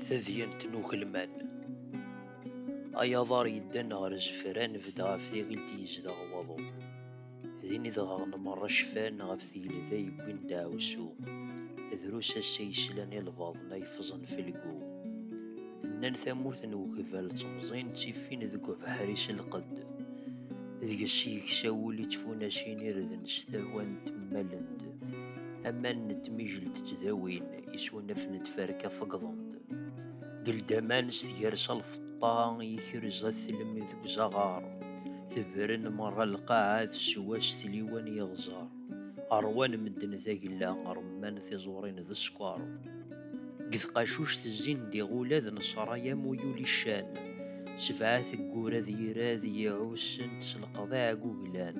tadyant n ugelman ay aḍar yeddan ɣer zefra nebda ɣef tiɣilt yezdeɣ waḍu din i dɣaɣen merra cfan ɣef tigelda yewwin daɛwsu drus ass-a yeslan i lbaḍna yefẓen felgu nnan tamurt n ugbal temẓin ttifin deg ubeḥri s lqedd deg-s yeksa wul i tfunacin irden s tawant mmalent aman n tmijelt ttdawin isunaf n tferka feggḍent geldaman s tgersa lfeṭṭa yekrez at tlem deg uzaɣar tebren merra lqaɛa teswa s tliwan yeɣẓar ṛwan medden tagella ṛemman tiẓurin d sskeṛ Deg tqacuct zzin d iɣula d nesraya mu yuli ccan, sebɛa teggura d irad i iɛussen-t s leqḍiɛ aguglan,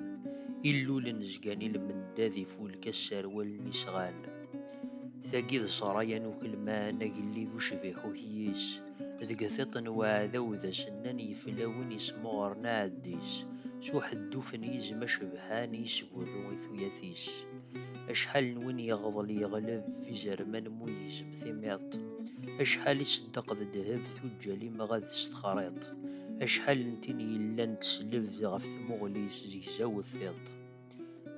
illulen zgan i lmenda d ifulka sserwalen isɣan. Tagi d sraya n ukelman agellid ucbiḥ ukyis, deg tiṭ n uɛdaw d asenna n yiflawin yesmuɣren aɛeddi-s s uḥedduf n yizem acebḥan i yesgurru i tuyat-is. Acḥal n win yeɣḍel yeɣleb izerman mu yizem timiḍt, acḥal iseddeq d ddheb tuǧǧal imɣad s texriḍt, acḥal n tin yellan teslebd ɣef tmuɣli-s zegzawet tiṭ.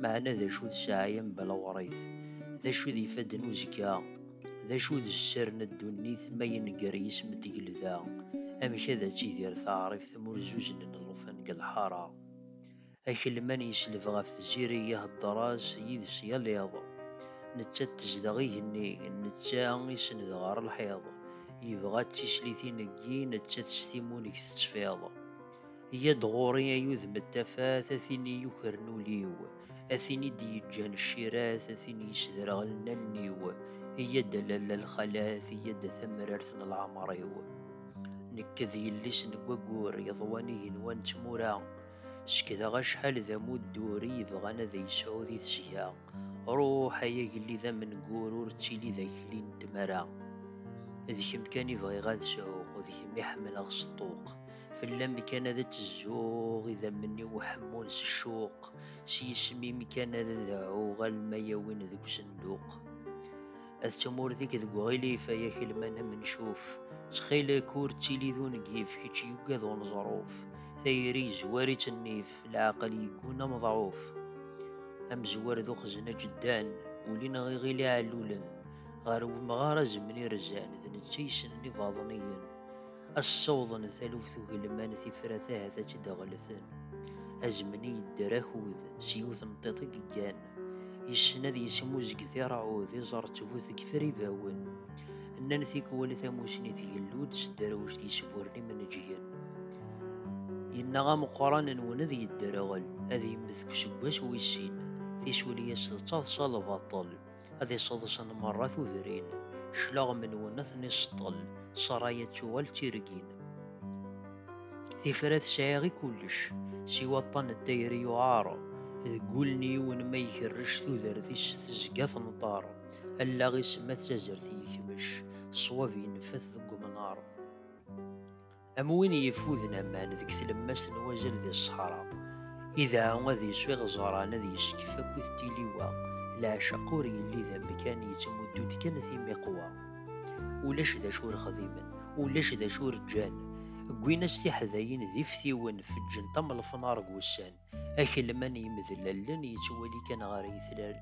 Meɛna d acu d ssaɛaya n belɣeṛ-it? D acu d ifadden uzekka? D acu d sser n ddunit ma yenger yisem n tgelda? Amek ad tidir taɛribt m urzuznen n llufan deg lḥaṛa? Akelman yesleb ɣef Tiziri ihedder-as yid-s yal iḍ. Nettat tezdeɣ igenni, netta isenned ɣer lḥiḍ. Yebɣa-tt d tislitin n yi, nettat s timunek tettfiḍ. Yya-d ɣur-i ay udem n tafat, a tin i yukren ul-iw, a tin i d-yeǧǧan ccirat, a tin yesderɣlen allen-iw, yya-d a lalla lxalat, yya-d a tamrart n leɛmer-iw. Nekk d yelli-s n waggur yeḍwan igenwan n tmura. Sekdeɣ acḥal d amuddur i yebɣan ad yesɛu di tesga. Ruḥ ay agellid amengur ur ttili d akli n tmara. D kemm kan i bɣiɣ ad sɛuɣ, d kemm i ḥemmleɣ s ṭṭuq. Fell-am kan ad tezzuɣ idammen-iw ḥemmun s ccuq, s yisem-im kan ad deɛɛuɣ alma yawin deg usenduq. Ad tumurdik deg uɣilif ay akelman am ncuf, ttxilek ur ttili d ungif, kečč yugad uneẓruf, tayri yezwar-itt nnif, leɛqel yegguna ameḍɛuf. Amezwar d uxzen aǧeddan, ulin aɣiɣil iɛellulen, ɣer wemɣar azemni irzan, d netta yessnen ibaḍniyen, ad ssawḍen taluft ugelman tifrat ahat ad tt-id-ɣellten. Azemni yedder akud, s yiwet n tiṭ i yeggan. Yessen ad yesmuzeg tirɛud, iẓerrett bu tegfer ibawen. Nnan tikwal tamusni tgellu-d s dderwect yesburren imenǧgen. Yenna ameqqran nwen ad yedderɣel, ad yemmet deg useggas wis sin. Tisuli-as d taḍsa lbaṭel, ad iseḍsen merra tudrin. Cclaɣem nwen ad ten-iseṭṭel, ṣṣraya ad tuɣal d tirgin. Tifrat sɛiɣ i kullec, siwa aṭṭan n tayri yuɛer, deg wul n yiwen ma ikerrec tudert-is tezga tenṭer, allaɣ-is ma d tazert yekmec, ṣṣwab ineffet deg umnar. Am win yeffuden aman deg tlemmast n wazal di ṣṣeḥra, idɛa ad isu iɣeẓran ad yeskef akkit tiliwa, leɛceq ur yelli d amkan yettmuddu-d kan timiqwa. ulac d acu ur xdimen, ulac d acu ur ǧǧan, ggwin-as tiḥdayin d iftiwen, feǧǧen tamelfnar deg wussan, akelman yemedlallen yettwali kan ɣer yitlal.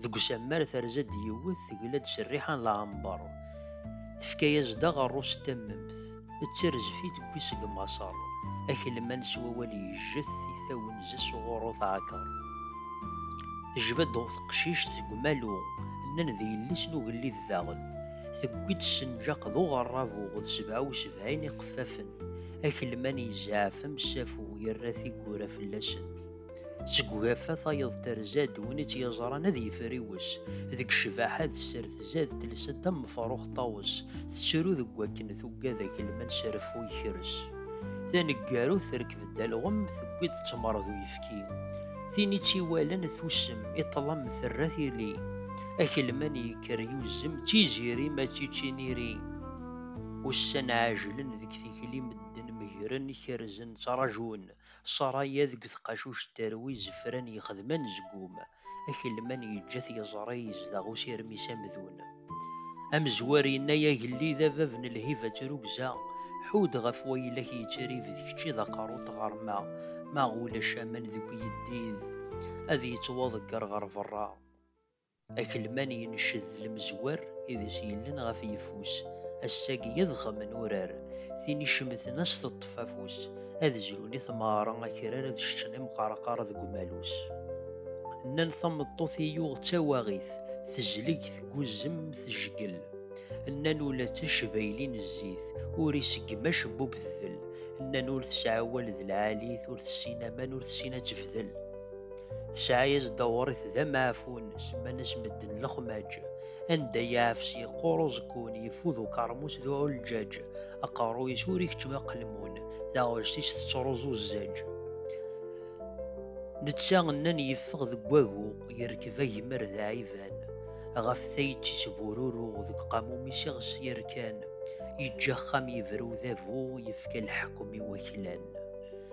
Deg usammar terza-d yiwet, tegla-d s rriḥa n lɛember, tefka-yas-d aɣerru s tammemt. d tirzfit n wis deg Maṣer, akelman s wawal yejjet i tawenza s uɣurru taɛker. Tejba-d teqcict seg umalu, nnan d yelli-s n ugellid daɣen, tewwi-d ssenǧaq d uɣerrabu d sebɛa u sebɛin iqeffafen, akelman yezɛef amsafu yerra tiggura fell-asen. Seg ugafa tayeḍ terza-d win i tt-yeẓran ad yefriwes. Deg ccbaḥa d sser tzad telsa d tamefruxt ṭawes, tettru deg wakken tuggad akelman s reffu yekres. Taneggarut terkeb-d alɣem tewwi-d ttmer d uyefki. Tin i tt-iwalan tusem, i ṭlam terra tili. Akelman yekker yuzem d tiziri ma d ticiniri. Ussan ɛejlen deg tikli medden megren kerzen ttrajun. Ṣaraya deg tqacuct terwi zefran yexdem anezgum, akelman yeǧǧa-t yeẓra yezdeɣ usirem-is amdun. Amezwar yenna-y agellid a bab n lhiba trugza, ḥud ɣef wayla-k yettrib d kečč i d aqerru n tɣerma, ma ulac aman deg uyeddid ad yettwaḍegger ɣer berra. Akelman yenced lemzwer i d as yellen ɣef yeffus, ass-agi yeḍxem n urar, tin icemten as teṭṭef afus, ad zrun i tmeɣra akrar ad ceččen imqerqar deg umalus. Nnan tameṭṭut i yuɣ d tawaɣit, tezleg tguzzem tejgel, nnan ula d tacbayli n zzit ur iseggem acebbub tdel, nnan ur tesɛi awal d lɛalit, ur tessin aman ur tessin ad tefdel. Tesɛa-yas-d awṛet d amaɛfun, semman-as medden lexmaǧ. Anda yeɛfes yeqqur uẓekkun, yeffud ukeṛmus d uɛulǧaǧ. Aqerruy-is ur ikeččem aqelmun, taɣect-is tettruẓu zzaǧ. Netta nnan yeffeɣ deg wagu, yerkeb agmer d aɛiban. Ɣef tayet-is bururu, deg uqamum-is iɣes yerkan. Yeǧǧa axxam yebra udabu, yefka leḥkem i waklan.